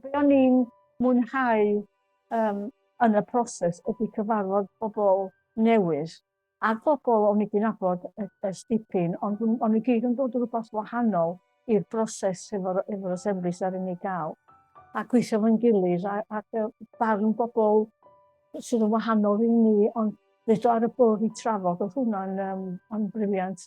Be o'n i'n mwynhau um, yn y proses ydy cyfarfod pobl newydd a bobl o'n i wedi nabod ers dipyn, ond o'n i gyd yn dod rhywbeth wahanol i'r broses efo'r efo asemblis ar unig gael. A gweithio fo'n gilydd a, a barn bobl sydd yn wahanol i ni, ond ddedo ar y bwrdd i trafod, oedd hwnna'n um, briliant.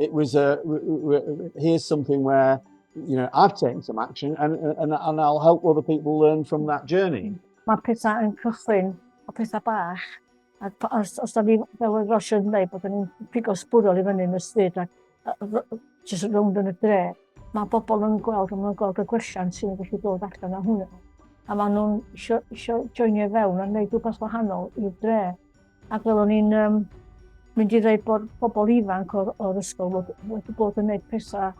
it was a here's something where you know I've taken some action and and, and I'll help other people learn from that journey. Mae pethau yn cychwyn o pethau bach. A os, os da ni, fel oedd Rosio yn dweud, bod ni'n pigo sbwrol i fyny yn y stryd ac jyst rownd yn y dre, mae bobl yn gweld, a maen gweld y gwelliant sy'n gallu dod allan o hwnna. A maen nhw'n eisiau joinio fewn a wneud rhywbeth wahanol i'r dre. Ac fel o'n i'n um, mynd i ddweud bod pobl ifanc o'r, or ysgol wedi bod yn gwneud pethau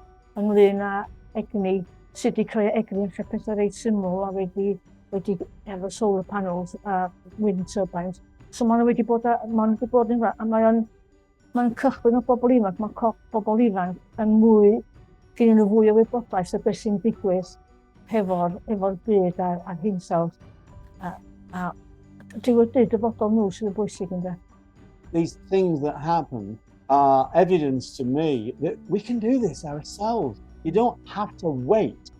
ynglyn â egni, sut i creu egni yn lle pethau reit syml a wedi, wedi efo solar panels a wind turbines. So maen nhw wedi bod, maen nhw wedi bod yn, a mae o'n Mae'n cychwyn o bobl ifanc, mae corff bobl ifanc yn mwy, gennyn nhw fwy o wybodaeth o beth sy'n digwydd hefo'r efo byd a'r, ar hinsawdd. A, a dyw y byd dyfodol nhw sydd yn bwysig ynddo. These things that happen are evidence to me that we can do this ourselves. You don't have to wait